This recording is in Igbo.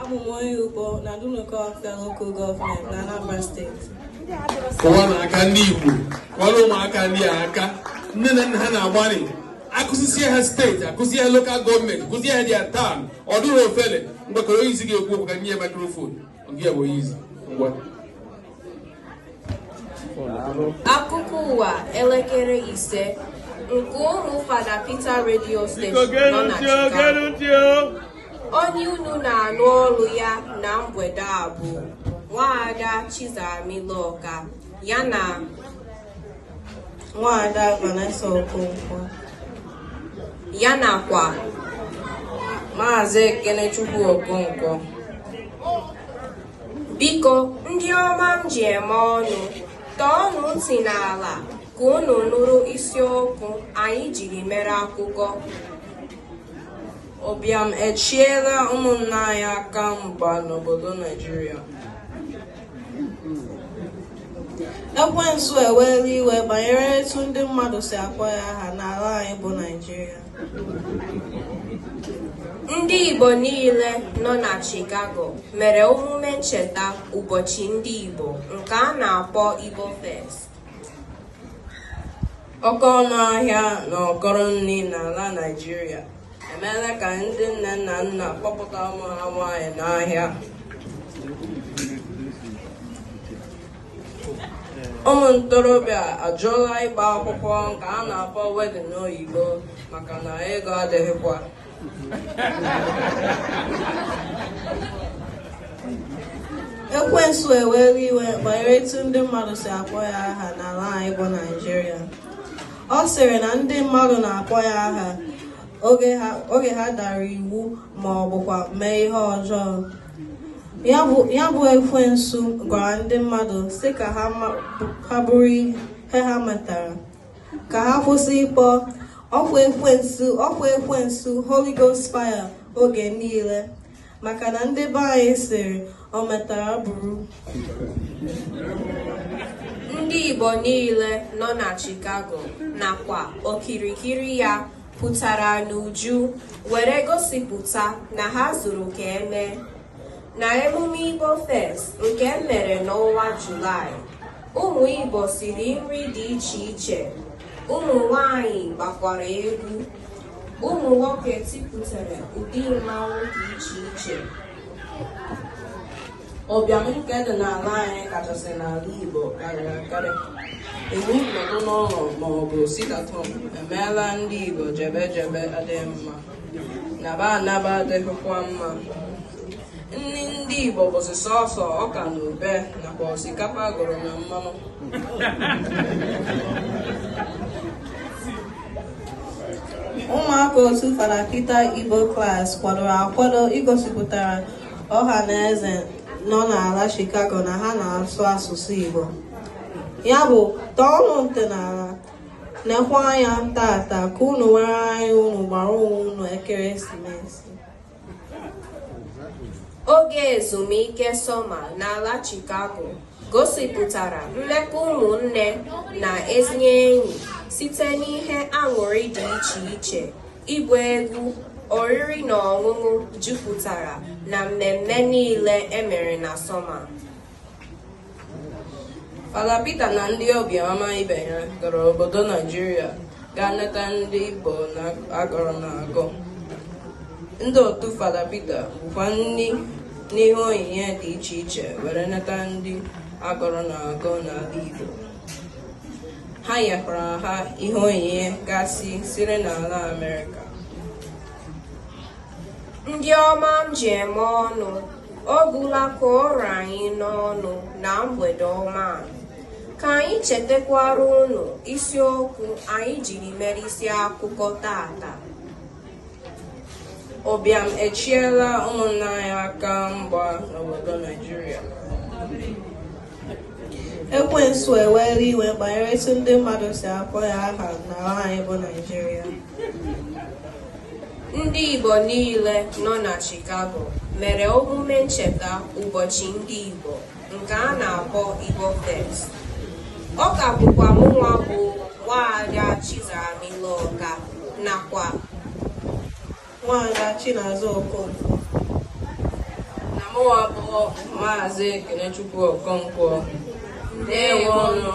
Abụ m onye Ukpo na Dunukofia Local Government na Anambra Steeti. Kụọnụ aka ndị Igbo, kụọrọ ụmụaka ndị a aka, nne na nna ha na-agbalị akụzisie ha steeti akụzie ha local government kụzie ha their town ọ dịghị ofele mgbakọrọ onye isi ga-ekwu okwu ka nye ya microphone nke ya bụ onye isi ngwa Akụkọ ụwa elekere ise nke ụlọ Fada Peter Radio Station nọ na Chicago. Onye unu na-anụ olu ya na mgbede a bụ Nwaada Chizaram Iloka ya na Nwaada Vanessa Okonkwo ya nakwa Maazị Ekenechukwu Okonkwo. biko ndị ọma m ji eme ọnụ tọọnụ ntị n'ala ka unu nụrụ isiokwu anyị jiri mere akụkọ ụbịam echiela ụmụnna anyị aka mgba n'obodo naijiria ekwensu eweela iwe banyere etu ndị mmadụ si akpọ ya aha n'ala anyị bụ naijiria Ndị Igbo niile nọ na Chicago mere omume ncheta ụbọchị ndị Igbo nke a na-akpọ Igbo Fest. Oke ọnụ ahịa na ụkọrọ nri n'ala Naịjirịa emeela ka ndị nne na nna kpọpụta ụmụ ha nwaanyị n'ahịa ụmụ ntorobịa ajụọla ịgba akwụkwọ nke a na-akpọ wedding n'oyibo maka na ego adịghịkwa ekwensu eweela iwe banyere etu ndị mmadụ si akpọ ya aha n'ala anyị bụ naijiria ọ sịrị na ndị mmadụ na-akpọ ya aha oge ha dara iwu ma ọ bụkwa mee ihe ọjọọ ya bụ ekwensu gwara ndị mmadụ sị ka ha buru ihe ha metara ka ha kwụsị ịkpọ ọ kwa ekwensu Holy Ghost fire oge niile maka na ndị be anyị sịrị o metara buru ndị Igbo niile nọ na Chicago nakwa okirikiri ya pụtara n'uju were gosipụta na ha zuru ka e mee na emume Igbo Fest nke e mere n'ọnwa Julaị ụmụ Igbo siri nri dị iche iche ụmụ nwanyị gbakwara egwu ụmụ nwoke tipụtara ụdị mmanwụ dị iche iche Ụbịam nke dị n'ala anyị kachasị n'ala Igbo karịrị akarị. Iwu nọdụ n'ụlọ ma ọ bụ sit-at-home emeela ndị Igbo jebe ejebe adịghị mma. Naba anaba adịghịkwa mma. Nri ndị Igbo bụzi sọsọ ọka na ube nakwa osikapa gụrụ na mmanụ. Ụmụaka otu Fada Peter Igbo Class kwadoro akwado igosipụtara ọha na eze nọ n'ala Chicago na ha na-asụ asụsụ Igbo ya bụ tọọnụ ntị n'ala nekwa anya tata ka unu nwere anya unu gbara onwe unu ekeresimesi oge ezumike sọma n'ala Chicago gosipụtara mmekọ ụmụnne na ezi enyi site n'ihe aṅụrị dị iche iche ịgba egwu oriri na ọṅụṅụ jupụtara na mmemme niile e mere na sọma Fada Peter na ndị obi ọma ibe ya gara obodo Naijiria gaa neta ndị Igbo na agụrụ na-agụ ndị otu Fada Peter bukwa nri na ihe onyinye dị iche iche were neta ndị agụrụ na-agụ n'ala Igbo ha nyekwara ha ihe onyinye gasị siri n'ala Amerịka ndị ọma m ji eme ọnụ ọ gwụla ka ọ ra anyị n'ọnụ na mgbede ọma a Ka anyị chetakwara unu isiokwu anyị jiri mere isi akụkọ tata. Ụbịam echiela ụmụnna anyị aka mgba n'obodo Naijiria. Ekwensu ewere iwe banyere etu ndị mmadụ si akpọ ya aha n'ala anyị bụ Naijiria. Ndị Igbo niile nọ na Chicago mere omume ncheta ụbọchị ndị Igbo. nke a na-akpọ Igbo Fest. Ọ ka bụkwa mụnwa bụ Nwaada Chizaram Ilọka nakwa Nwaada Chinazọ Okonkwo na mụnwa bụ Maazị Ekenechukwu Okonkwo ndewonụ